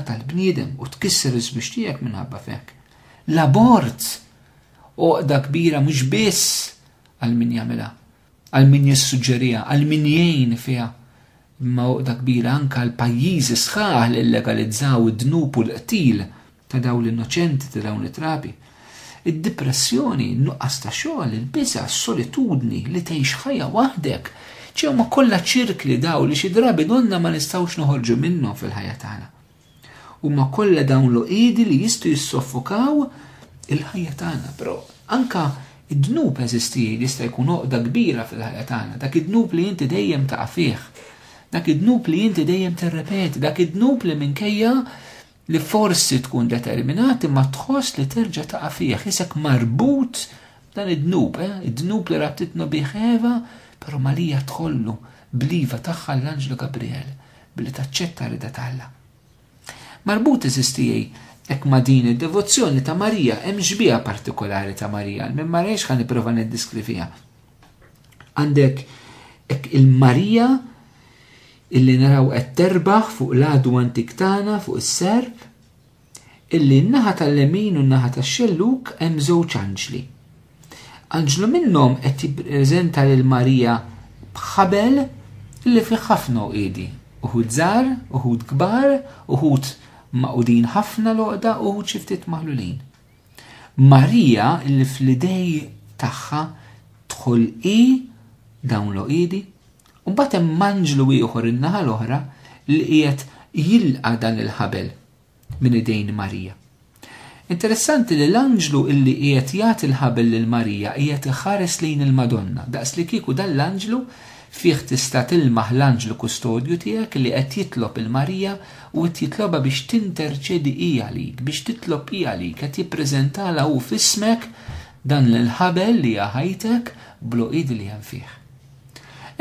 tal-bniedem u tkisser iż-żwieġ tiegħek minħabba fek. L-abort oqda kbira mhux biss għal min jagħmilha, għal min jissuġġerija, għal min jgħin fiha, imma oqda kbira anke għal pajjiżi sħaħ li legalizzaw id-dnub u l-qtil ta' dawn l-innoċenti ta' dawn it-trabi. Id-dipressjoni, in-nuqqas ta' xogħol, il-biża', s-solitudni, li tgħix ħajja waħdek, ċe huma kollha ċirkli dawn li xi drabi donnha ma nistgħux noħorġu minnhom fil-ħajja tagħna. Huma kollha dawn l-għoqiedi li jistgħu jissoffokaw il-ħajja tagħna, però anke id-dnub eżisti jista' jkun għoqda kbira fil-ħajja tagħna, dak id-dnub li inti dejjem taqa' fih, dak id-dnub li inti dejjem tirrepeti, dak id-dnub li minkejja li forsi tkun determinat imma tħoss li terġa' taqa' fih, isek marbut dan id-dnub, eh? id-dnub li rabtitna bih Eva, però Malija tħollu bl-iva tagħha l-Anġlu Gabriel billi taċċetta rida ta' Alla. Marbut eżistijej Ek ma din id-devozzjoni ta' Marija, hemm xbieha partikolari ta' Marija, minn marejx ħan nipprova niddiskriviha. Għandek hekk il-Marija illi naraw qed terbaħ fuq l-għadu antik tagħna fuq is-serb, illi n-naħa tal-lemin u n-naħa tax-xelluk hemm żewġ anġli. Anġlu minnhom qed jippreżenta lil Marija b'ħabel li fih ħafna uqiedi, uħud żgħar, uħud kbar, uħud maqudin ħafna loqda, uħud xi ftit maħlulin. Marija li fl-idej tagħha tħol hi dawn l-oqidi, u mbagħad hemm anġlu ieħor in-naħa l-oħra li qiegħed jilqa' dan il-ħabel minn idejn Marija. Interessanti li l-anġlu illi qiegħed jagħti l-ħabel lil Marija qiegħed iħares lejn il-Madonna, daqs li kieku dan l-anġlu Fih tista' tilmaħ l-anġlu kustodju tiegħek li qed jitlob 'il Marija u qed jitlobha biex tinterċedi hi għalik, biex titlob hi għalik, qed jippreżentalha hu f'ismek dan l-ħabel li hija ħajtek bl-għoqid li hemm fih.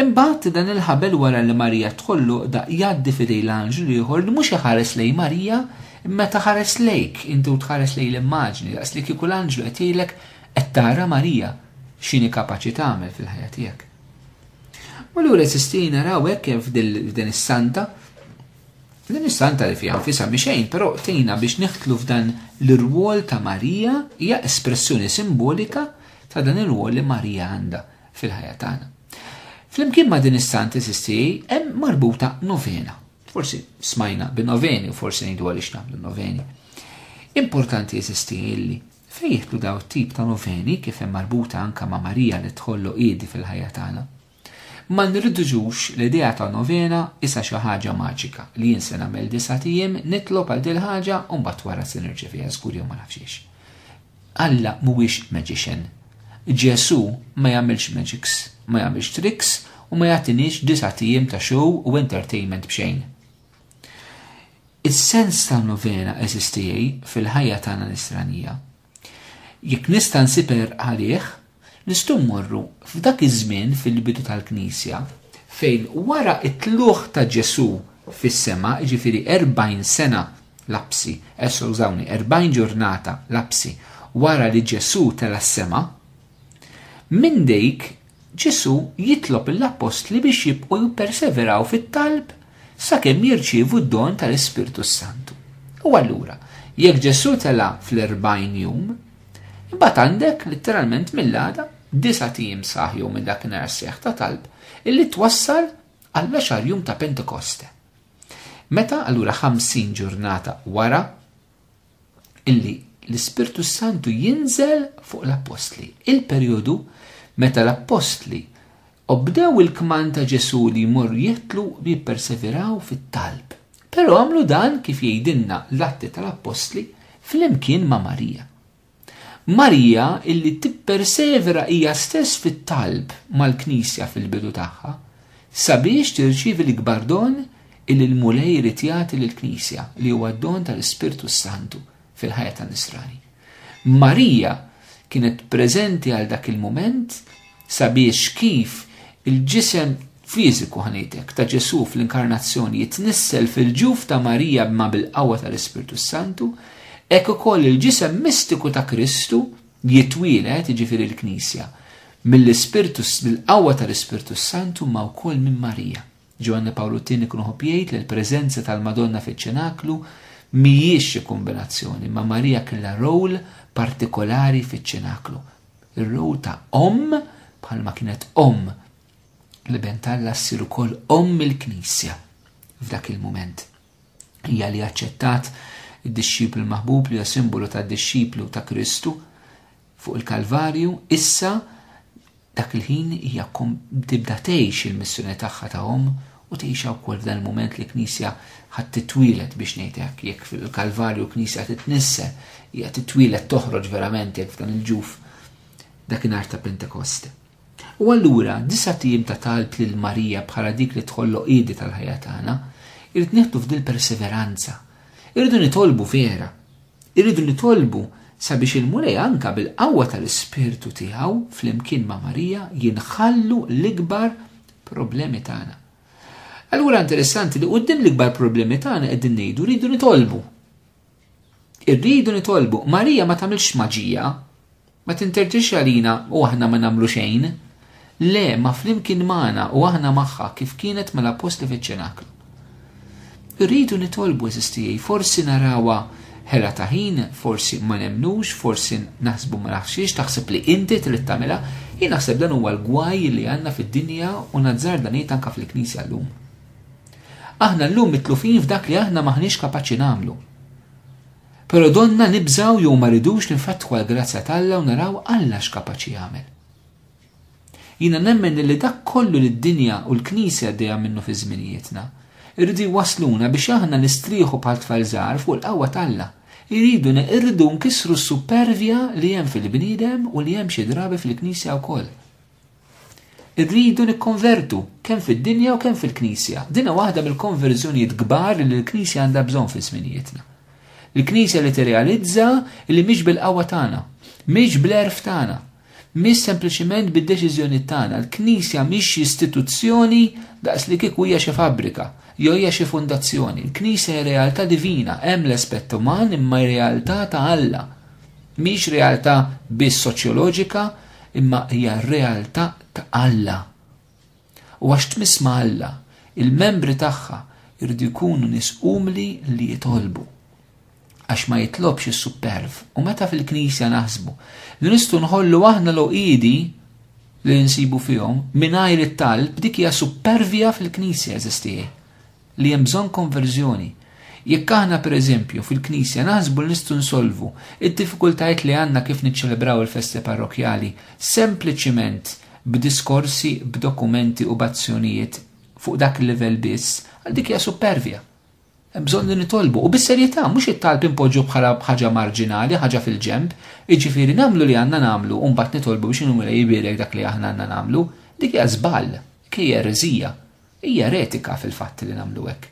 Imbagħad dan il-ħabel wara li Marija tħoll l-għoqda jgħaddi f'idejn l-anġlu l-ieħor li mhux iħares lejn Marija imma qed iħares lejk inti u tħares lejn l-immaġni daqs li kieku l-anġlu qed jgħidlek qed tara Marija x'inhi kapaċi tagħmel fil-ħajja tiegħek. U l-għura sistina raw ekke f'din is-santa, din is-santa li fija nfisa miexejn, pero tejna biex neħtlu f'dan l-rwol ta' Marija, hija espressjoni simbolika ta' dan il-rwol li Marija għanda fil-ħajja tagħna. Flimkien ma' din is-santa sisti hemm marbuta novena. Forsi smajna bi noveni u forsi ngħidu għaliex nagħmlu noveni. Importanti jesisti illi Fejn jidħlu dawn it-tip ta' noveni kif hemm marbuta anke ma' Marija li tħollu qiedi fil-ħajja tagħna? Ma nirriduġux l-idea ta' novena isa xi ħaġa maġika li jien se nagħmel disgħat ijiem nitlob għal dil-ħaġa u mbagħad wara se nirċeviha żgur jew ma nafx hiex. Alla mhuwiex magician. Ġesù ma jagħmilx magics, ma jagħmilx tricks u ma jagħtiniex disgħat ijiem ta' show u entertainment b'xejn. Is-sens tan-novena eżistijej fil-ħajja tagħna nisranija. Jekk nista' nsiper għalih, nistgħu mmorru f'dak iż-żmien fil-bidu tal-Knisja fejn wara t-tluħ ta' Ġesù fis-sema, ġifieri 40 sena lapsi, esso użawni 40 ġurnata lapsi wara li Ġesù tela s-sema, minn dik Ġesù jitlob lill-appostli biex jibqgħu jipperseveraw fit-talb sakemm jirċievu d-don tal-Ispirtu s-Santu. U allura, jekk Ġesù tela' fl-erbgħin jum, imbagħad għandek, litteralment mill-għada, disgħat ijiem sħaħ jew minn dakinhar għas-sejħ ta' talb, illi twassal għall-għaxar jum ta' Pentekoste. Meta, allura ħamsin ġurnata wara, illi l-Ispirtu Santu jinżel fuq l-appostli. Il-perjodu meta l-appostli obdew il-kman ta' Ġesu li jmorru jitlu li jipperseveraw fit-talb. Però għamlu dan kif jgħidilna l-atti tal-appostli flimkien ma' Marija. Marija illi tippersevera hija stess fit-talb mal-Knisja fil-bidu tagħha sabiex tirċievi l-ikbar don illi l-Mulej irid jagħti lill-Knisja li huwa d-don tal-Ispirtu s-Santu fil-ħajja tan-Nisrani. Marija kienet preżenti għal dak il-mument Sabiex kif il-ġisem fiżiku, ħa ngħid hekk, ta' Ġesù fl-Inkarnazzjoni jitnissel fil-ġuf ta' Marija b'ma bil-qawwa tal-Ispirtu s-Santu, hekk ukoll il-ġisem mistiku ta' Kristu jitwieled, jiġifieri l-Knisja, mill-Ispirtu bil-qawwa tal-Ispirtu s-Santu imma wkoll minn Marija. Ġwanni Pawlu t-Tieni jkun iħobb jgħid li l-preżenza tal-Madonna fiċ-Ċenaklu mhijiex xi kumbinazzjoni imma Marija kellha role partikolari fiċ-Ċenaklu. Ir-rwol ta' omm bħalma kienet omm l-Iben t'Alla ssir ukoll omm il-Knisja f'dak il-mument. Hija li aċċettat id-dixxiplu l-maħbub li huwa simbolu tad-dixxiplu ta' Kristu fuq il-Kalvarju, issa dak il-ħin hija tibda tgħix il-missjoni tagħha ta' omm U tgħixha wkoll f'dan il-mument li Knisja ħadd titwieled biex ngħid hekk, jekk fil-Kalvarju Knisja titnissel, hija titwieled toħroġ verament jekk f'dan il-ġuf dakinhar ta' Pentekost. U allura disa' tim ta' talb lil Marija bħala dik li tħolloq qidi tal-ħajja tagħna, irid nieħdu f'dil perseveranza. Irridu nitolbu vera. Irridu nitolbu sabiex il-Mulej anka bil-qawwa tal-Ispirtu tiegħu flimkien ma' Marija jinħallu l-ikbar problemi tagħna. Allura interessanti li qudiem l-ikbar problemi tagħna qegħdin ngħidu rridu nitolbu. Irridu nitolbu. Marija ma tagħmilx maġija, ma tinterġiex għalina u aħna ma nagħmlu xejn. Le, ma flimkien magħna u aħna magħha kif kienet mal-apostli fiċ-ċenaklu. Irridu nitolbu eżistijaj, forsi narawa ħela ta' ħin, forsi ma nemmnux, forsi naħsbu ma naħsiex, taħseb li inti trid tagħmilha, jien naħseb dan huwa l-gwaj li għandna fid-dinja u nazzar dan jgħid anke fil-Knisja llum. Aħna llum mitlufin f'dak li aħna m'aħniex kapaċi nagħmlu. Però donna nibżgħu jew ma ridux ninfetħu għall-grazzja t'Alla u naraw Alla x'kapaċi jagħmel. Jiena nemmen illi dak kollu li d-dinja u l-Knisja għaddejja minnu fi żminijietna, irridu jwassluna biex aħna nistrieħu bħal tfal żgħar fuq il-qawwa t'Alla. Iriduna, irridu nkissru s-suppervja li hemm fil-bniedem u li hemm xi drabi fil-Knisja wkoll. Irridu nikkonvertu, kemm fid-dinja u kemm fil-Knisja. Dinha waħda mill-konverżjonijiet kbar li l-Knisja għandha bżonn fi żminijietna. Il-Knisja li tirrealizza illi mhix bil-qawwa tagħna, mhix bl-għerf tagħna, Mhix sempliċiment bid-deċiżjonijiet tagħna, l-Knisja mhix xi istituzzjoni daqs li kieku hija xi fabbrika, jew hija xi fundazzjoni. Il-Knisja hi realtà divina, hemm l-aspett uman imma hi realtà ta' Alla. Mhix realtà biss soċjoloġika, imma hija realtà ta' Alla. U għax tmiss ma' Alla, il-membri tagħha jridu jkunu nies umli li jitolbu. Għax ma jitlobx is-supperv. U meta fil-Knisja naħsbu li nistgħu nħollu aħna l-għoqiedi li nsibu fihom mingħajr it-talb dik hija suppervja fil-Knisja eżistijie. li hemm bżonn konverżjoni. Jekk aħna, per eżempju, fil-Knisja naħsbu li nistgħu nsolvu d-diffikultajiet li għandna kif niċċelebraw il-festi parrokkjali sempliċiment b'diskorsi, b'dokumenti u b'azzjonijiet fuq dak il-livell biss, dik hija suppervja. Hemm bżonn li nitolbu u bis-serjetà mhux it-talb inpoġġu bħala ħaġa marġinali, ħaġa fil-ġenb, jiġifieri nagħmlu li għandna nagħmlu u mbagħad nitolbu biex Inwila jibierek dak li aħna għandna nagħmlu, dik hija żball, dik hija ereżija. Hija eretika fil-fatt li nagħmlu hekk,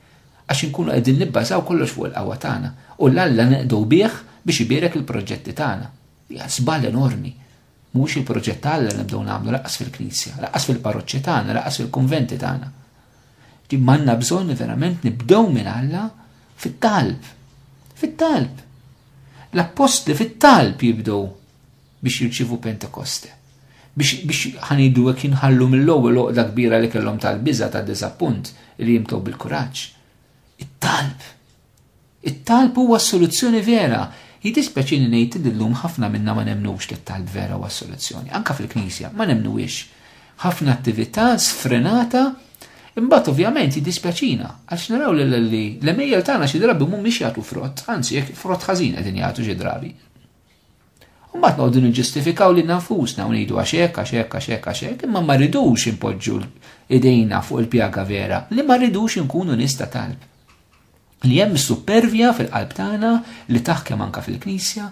għax inkunu qegħdin nibbażaw kollox fuq il-qawwa tagħna u 'l Alla neqdu bih biex ibierek il-proġetti tagħna. Hija żball enormi. Mhuwiex il-proġett ta' Alla li nibdew nagħmlu lanqas fil-Knisja, lanqas fil-parroċċi tagħna, lanqas fil-kunventi tagħna. Ġifieri m'għandna bżonn li verament nibdew minn Alla fit-talb. Fit-talb. L-appostli fit-talb jibdew biex jirċievu Pentekoste. Biex, biex ħanidu hekk jinħallu mill-ewwel oqda kbira li kellhom tal-biża ta' diżappunt li jimtew bil-kuraġġ. It-talb. It-talb huwa s-soluzzjoni vera. Jidispeċini ngħid li llum ħafna minna ma nemnux li t-talb vera huwa s-soluzzjoni. Anka fil-Knisja ma nemnuwiex. Ħafna attività sfrenata Imbagħad ovvjament jiddispjaċina għax naraw li l-emejjel tagħna xi drabi mhumiex jagħtu frott, anzi jekk frott ħażin qegħdin jagħtu xi drabi. Mbagħad noqogħdu niġġustifikaw lil nafusna u ngħidu għax hekk, għax hekk, għax hekk, għax hekk, imma ma rridux inpoġġu idejna fuq il-pjaga vera li ma rridux inkunu nies ta' talb. Li hemm supervja fil-qalb tagħna li taħkem anka fil-Knisja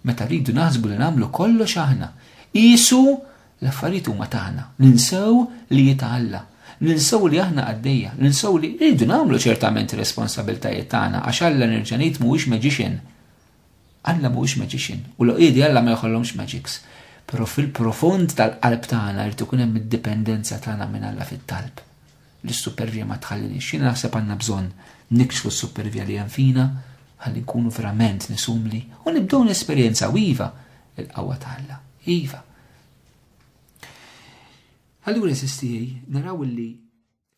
meta rridu naħsbu li nagħmlu kollox aħna. Isu l-affarijiet huma tagħna, ninsew li jitgħalla, ninsew li aħna għaddejja, ninsew li rridu nagħmlu ċertament responsabiltajiet tagħna għax Alla nerġa' ngħid mhuwiex magician Alla mhuwiex magician u l-għoqiedi Alla ma jħollhomx magics. Però fil-profond tal-qalb tagħna jrid ikun hemm id-dipendenza tagħna minn Alla fit-talb li s-supervija ma tħalliniex. Jiena naħseb għandna bżonn nikxfu s-supervija li hemm fina ħalli nkunu verament nies umli u nibdew nesperjenzaw, iva, il-qawwa ta' Alla. Iva. Allura, eżistiej, naraw illi